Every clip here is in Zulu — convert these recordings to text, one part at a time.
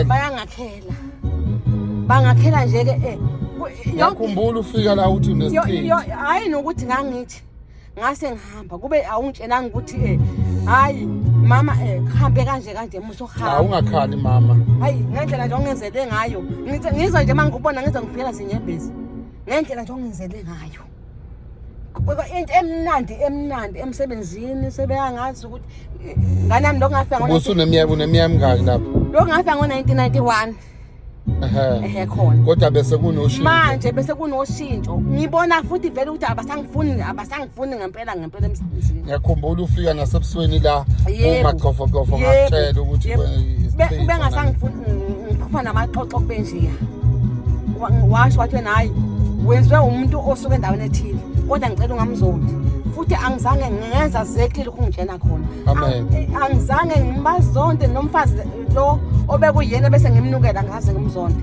bayangakhela bangakhela nje ke eh, yakhumbula ufika la uthi unesithini hayi nokuthi ngangithi ngase ngihamba kube awungitshelanga ukuthi eh hayi mama eh hambe kanje kanje muso hamba awungakhali mama hayi ngendlela nje ongenzele ngayo ngizwa nje mangikubona ngizwa ngiphela sinyembezi ngendlela nje ongenzele ngayo into emnandi emnandi emsebenzini sebeyangazi ukuthi nganami lokho ngafika ngo ubusuneminyaka uneminyaka emingaki lapho lokho ngafika ngo-1991 ehe khona kodwa bese kunoshintsho manje bese kunoshintsho ngibona futhi vele ukuthi abasangifuni abasangifuni ngempela Ngicela emsebenzini. Ngiyakhumbula ufika nasebusweni la Yebo. umagxofogxofo Yebo. ngakutshela ukuthi Yebo. kwe- Be- isichitho ubengasangifuni ngiphupha namaxoxo kube njeya Wa- washo wathi wena hayi wenzwe umuntu osuke endaweni ethile kodwa ngicela ungamzondi futhi angizange ngenza zekile lokhu ngitshena khona Amen. Ang- eh, angizange ngibazonde nomfazi lo obekuyena bese ngimnukela ngaze ngimzonde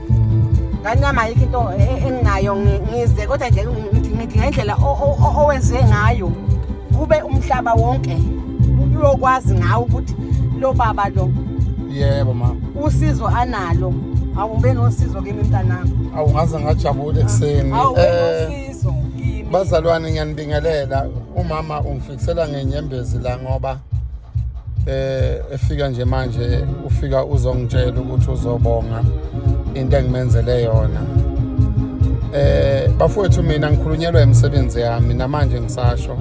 ngani yami ayikho into e, e, enginayo ngize kodwa nje ngidinga indlela owenze ngayo kube umhlaba wonke uyokwazi ngawo ukuthi lo baba lo yebo ma usizo analo awumbe nosizo kimi mntanami awungaze ngajabula ekuseni um bazalwane ngiyanibingelela umama Ngisela ngenyembezi la ngoba eh efika nje manje ufika uzongitshela ukuthi uzobonga into engimenzele yona eh bafowethu mina ngikhulunyelwa imisebenzi yami namanje ngisasho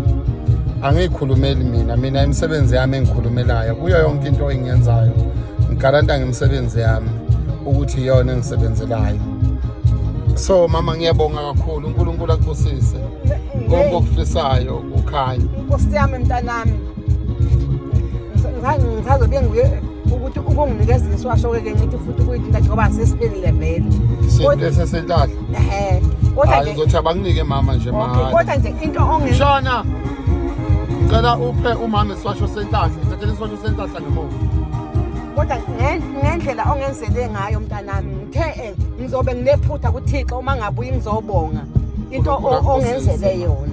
angiyikhulumeli mina mina imisebenzi yami engikhulumelayo kuyo yonke into engiyenzayo ngigaranta ngemisebenzi yami ukuthi iyona engisebenzelayo so mama ngiyabonga kakhulu uNkulunkulu akubusise konke okufisayo kukhanya Nkosi yami mntanami ngisazobe ngiye ukuthi ukunginikeza iswasho ke ngithi futhi kuyidinga njengoba sesiphelile vele sesesilahle ehe kodwa nje ngizothi abanginike mama nje mama kodwa nje into onge shona ngicela uphe umama iswasho sentahla ngithathele iswasho sentahla ngemuva kodwa ngendlela ongenzele ngayo mntanami ngithe ngizobe nginephutha kuthixo uma ngabuyi ngizobonga into ongenzele yona